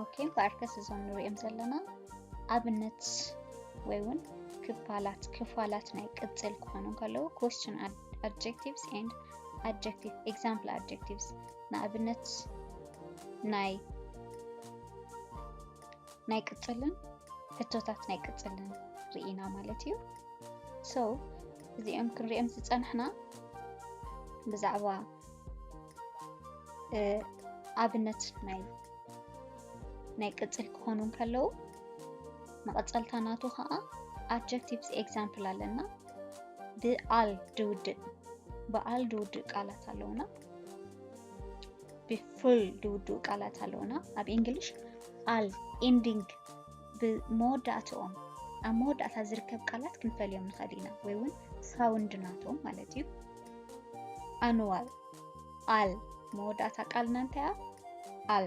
ኦኬ ብኣርከስ እዞም ንሪኦም ዘለና ኣብነት ወይ እውን ክፋላት ክፋላት ናይ ቅፅል ክኾኑ ከለዉ ኮስችን ኣድጀክቲቭስ ኤንድ ኣድጀክቲቭ ኤግዛምፕል ኣድጀክቲቭስ ንኣብነት ናይ ናይ ቅፅልን ሕቶታት ናይ ቅፅልን ርኢና ማለት እዩ ሰው እዚኦም ክንሪኦም ዝፀናሕና ብዛዕባ ኣብነት ናይ ናይ ቅፅል ክኾኑ ከለዉ መቐፀልታ ናቱ ከዓ ኣጀክቲቭስ ኤግዛምፕል ኣለና ብኣል ድውድእ ብኣል ድውድእ ቃላት ኣለዉና ፉል ድውድኡ ቃላት ኣለውና ኣብ እንግሊሽ ኣል ኢንዲንግ ብመወዳእትኦም ኣብ መወዳእታ ዝርከብ ቃላት ክንፈልዮም ንኽእል ኢና ወይ እውን ሳውንድ ናቶም ማለት እዩ ኣንዋል ኣል መወዳእታ ቃልና እንታይ እያ ኣል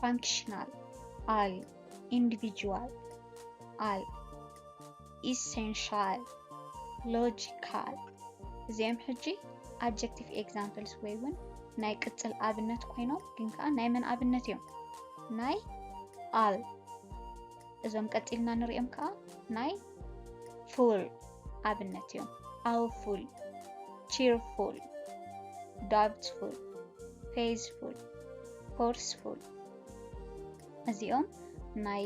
ፋንክሽናል ኣል ኢንዲቪጁዋል ኣል ኢሰንሻል፣ ሎጂካል፣ እዚኦም ሕጂ ኣጀክቲቭ ኤግዛምፕልስ ወይ እውን ናይ ቅፅል ኣብነት ኮይኖም ግን ከዓ ናይ መን ኣብነት እዮም? ናይ ኣል። እዞም ቀፂልና ንሪኦም ከዓ ናይ ፉል ኣብነት እዮም። ኣውፉል፣ ቺርፉል፣ ዳብትፉል፣ ፌዝፉል፣ ፎርስፉል እዚኦም ናይ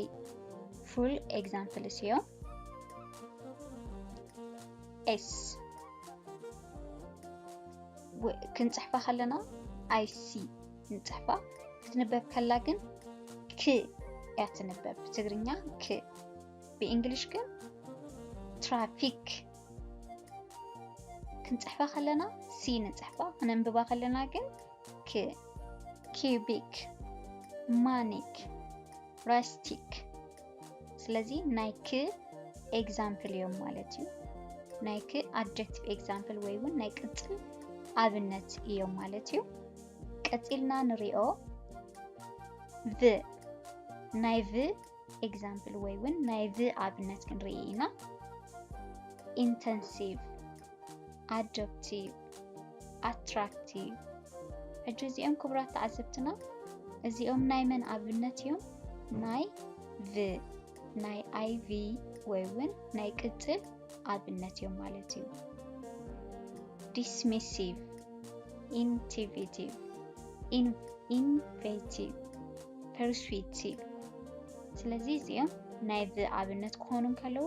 ፉል ኤግዛምፕልስ እዮም። ኤስ ክንፅሕፋ ከለና ኣይሲ ንፅሕፋ ክትንበብ ከላ ግን ክ እያ ትንበብ ብትግርኛ ክ ብእንግሊሽ ግን ትራፊክ ክንፅሕፋ ከለና ሲ ንፅሕፋ ክነንብባ ከለና ግን ክ ኪዩቢክ ማኒክ ራስቲክ ስለዚ ናይ ክ ኤግዛምፕል እዮም ማለት እዩ ናይ ክ ኣድጀክቲቭ ኤግዛምፕል ወይ እውን ናይ ቅፅል ኣብነት እዮም ማለት እዩ ቀፂልና ንሪኦ ቭ ናይ ቭ ኤግዛምፕል ወይ እውን ናይ ቭ ኣብነት ክንርኢ ኢና ኢንተንሲቭ ኣዶፕቲቭ፣ ኣትራክቲቭ። ሕጂ እዚኦም ክቡራት ተዓዘብትና እዚኦም ናይ መን ኣብነት እዮም? ናይ ቭ ናይ ኣይቪ ወይ እውን ናይ ቅጽል ኣብነት እዮም ማለት እዩ። ዲስሚሲቭ፣ ኢንቲቪቲቭ፣ ኢንቬቲቭ፣ ፐርስዊቲቭ። ስለዚ እዚኦም ናይ ቭ ኣብነት ክኾኑ እንከለዉ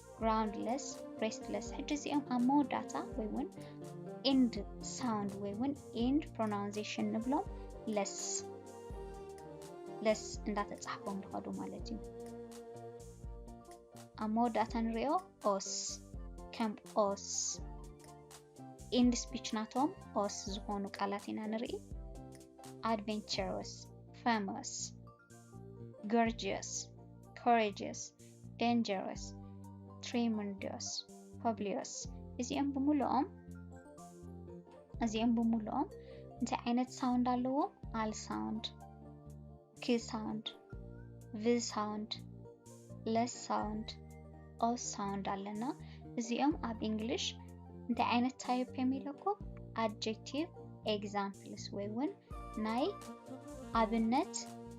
ግራውንድለስ ብሬስትለስ ሕጂ እዚኦም ኣብ መወዳእታ ወይ እውን ኤንድ ሳውንድ ወይ እውን ኤንድ ፕሮናውንዜሽን ንብሎም ለስ ለስ እንዳተፃሕፎም ዝኸዱ ማለት እዩ ኣብ መወዳእታ ንሪኦ ኦስ ከም ኦስ ኤንድ ስፒች ናቶም ኦስ ዝኾኑ ቃላት ኢና ንርኢ ኣድቨንቸሮስ ፈመስ ገርጅየስ ኮሬጅየስ ደንጀረስ ትሪሙንዶስ ፐብሊዮስ እዚኦም ብምልኦም እዚኦም ብምልኦም እንታይ ዓይነት ሳውንድ ኣለዎም ኣል ሳውንድ ኪ ሳውንድ ቪ ሳውንድ ለስ ሳውንድ ኦ ሳውንድ ኣለና። እዚኦም ኣብ እንግሊሽ እንታይ ዓይነት ታይፕ እዮም ኢለኩ ኣድጀክቲቭ ኤግዛምፕልስ ወይ እውን ናይ ኣብነት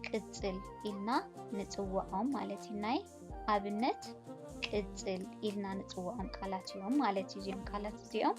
ቅፅል ኢልና ንፅውዖም ማለት እዩ። ናይ ኣብነት ቅፅል ኢልና ንፅውዖም ቃላት እዮም ማለት እዩ። እዚኦም ቃላት እዚኦም